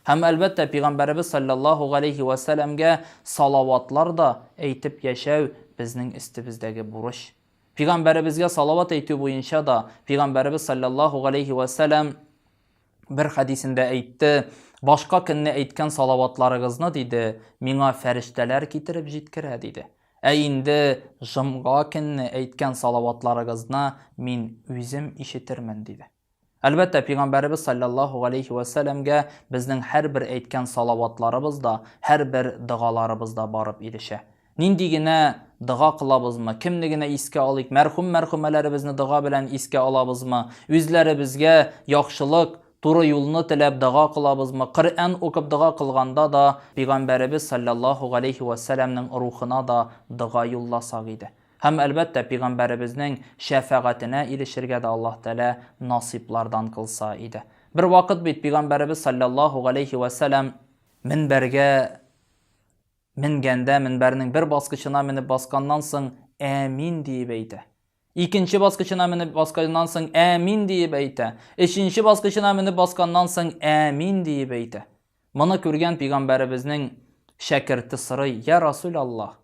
Һәм, әлбәттә, Пигамбәребез салләллаһу галәйһи вә сәләмгә салаватлар да әйтеп яшәү безнең өстебездәге бурыч. Пигамбәребезгә салават әйтү буенча да Пигамбәребез салләллаһу галәйһи вә сәләм бер хәдисендә әйтте, башка көнне әйткән салаватларыгызны, диде, миңа фәрештәләр китереп җиткерә, диде. Ә инде жомга көнне әйткән салаватларыгызны мин үзем ишетермен, диде. Әлбәттә, пигамбәребез саллаллаһу галәйһи ва сәләмгә безнең һәрбер әйткән салаватларыбыз да, һәрбер догаларыбыз да барып ирешә. Нинди генә дога кылабызмы, кемне генә искә алыйк, мәрхүм-мәрхүмәләребезне дога белән искә алабызмы, үзләребезгә яхшылык, туры юлны теләп дога кылабызмы, Коръән укып дога кылганда да, пигамбәребез саллаллаһу галәйһи ва сәләмнең рухына да дога юлласак иде. Һәм, әлбәттә, пигамбәребезнең шәфәгатенә ирешергә дә Аллаһ Тәгалә насыйплардан кылса иде. Бер вакыт бит пигамбәребез салләллаһу галәйһи вә сәлам минбәргә менгәндә, минбәрнең бер баскычына менеп басканнан соң, әмин диеп әйтә. Икенче баскычына менеп басканнан соң, әмин диеп әйтә. Өченче баскычына менеп басканнан соң, әмин диеп әйтә. Моны күргән пигамбәребезнең шәкерте сорый, я Расул Аллаһ,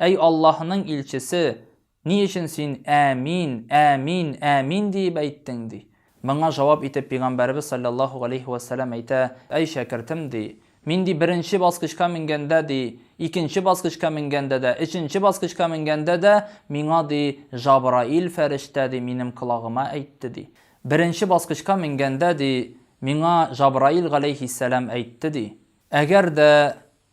Әй Аллаһының илчесе, ни өчен син Әәмин, әәмин, әәмин диеп әйттең? ди. Моңа җавап итеп Пигамбәребез салләллаһу галәйһи вә сәлам әйтә, Әй шәкертем, ди, мин, ди, беренче баскычка менгәндә, ди, икенче баскычка менгәндә дә, өченче баскычка менгәндә дә миңа, ди, Җабраил фәрештә, ди, минем колагыма әйтте, ди. Беренче баскычка менгәндә, ди, миңа Җабраил галәйһиссәлам әйтте, ди, Әгәр дә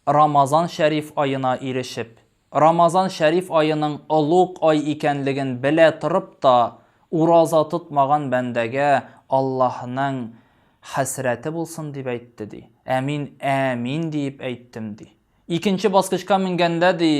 Рамазан шәриф аена ирешеп, Рамазан шәриф аеның олуг ай икәнлеген белә торып та, ураза тотмаган бәндәгә Аллаһның хәсрәте булсын дип әйтте, ди. Ә мин Әәмин диеп әйттем, ди. Икенче баскычка менгәндә, ди,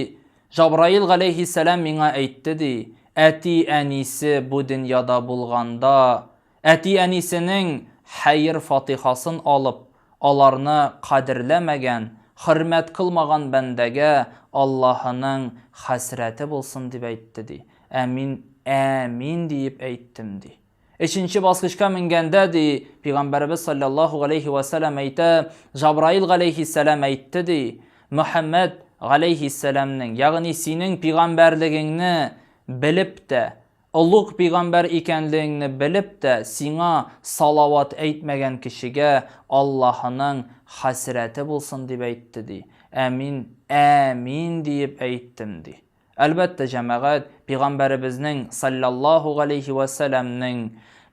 Җабраил галәйһиссәлам миңа әйтте, ди, Әти-әнисе бу дөньяда булганда, Әти-әнисенең хәер-фатихасын алып, аларны кадерләмәгән, хөрмәт кылмаган бәндәгә Аллаһының хәсрәте булсын, дип әйтте, ди. Ә мин Әәмин диеп әйттем, ди. Өченче баскычка менгәндә, ди, Пигамбәребез салләллаһу галәйһи вә сәлам әйтә, Җабраил галәйһиссәлам әйтте, ди, Мөхәммәд галәйһиссәламнең, ягъни синең пигамбәрлегеңне белеп тә, Олуг пигамбәр икәнлегеңне белеп тә, сиңа салават әйтмәгән кешегә Аллаһының хәсрәте булсын, дип әйтте, ди. Ә мин Әәмин диеп әйттем, ди. Әлбәттә, җәмәгать, пигамбәребезнең, салләллаһу галәйһи вә сәләмнең,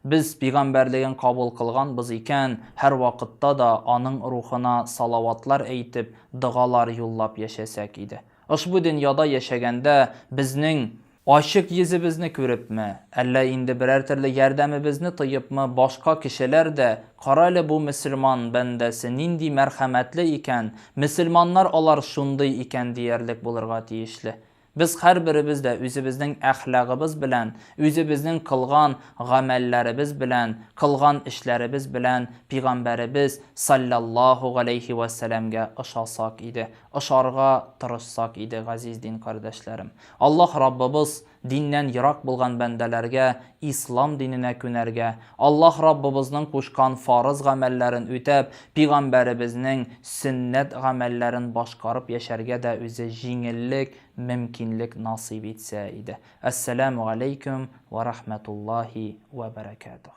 без пигамбәрлеген кабул кылганбыз икән, һәрвакытта да аның рухына салаватлар әйтеп, догалар юллап яшәсәк иде. Ошбу дөньяда яшәгәндә безнең Ачык йөзебезне күрепме, әллә инде берәр төрле ярдәмебезне тоепмы, башка кешеләр дә, Карале бу мөселман бәндәсе нинди мәрхәмәтле икән, мөселманнар алар шундый икән диярлек булырга тиешле. Без һәрберебез дә үзебезнең әхлагыбыз белән, үзебезнең кылган гамәлләребез белән, кылган эшләребез белән Пигамбәребез, салләллаһу галәйһи вә сәламгә ошасак иде, ошарга тырышсак иде, газиз дин кардәшләрем. Аллаһ Раббыбыз диннән ерак булган бәндәләргә Ислам диненә күнәргә, Аллаһ Раббыбызның кушкан фарыз гамәлләрен үтәп, Пигамбәребезнең сөннәт гамәлләрен башкарып яшәргә дә үзе җиңеллек, мөмкинлек насыйп итсә иде. Әссәләмү галәйкүм вә рәхмәтуллаһи вә бәрәкәтүһ.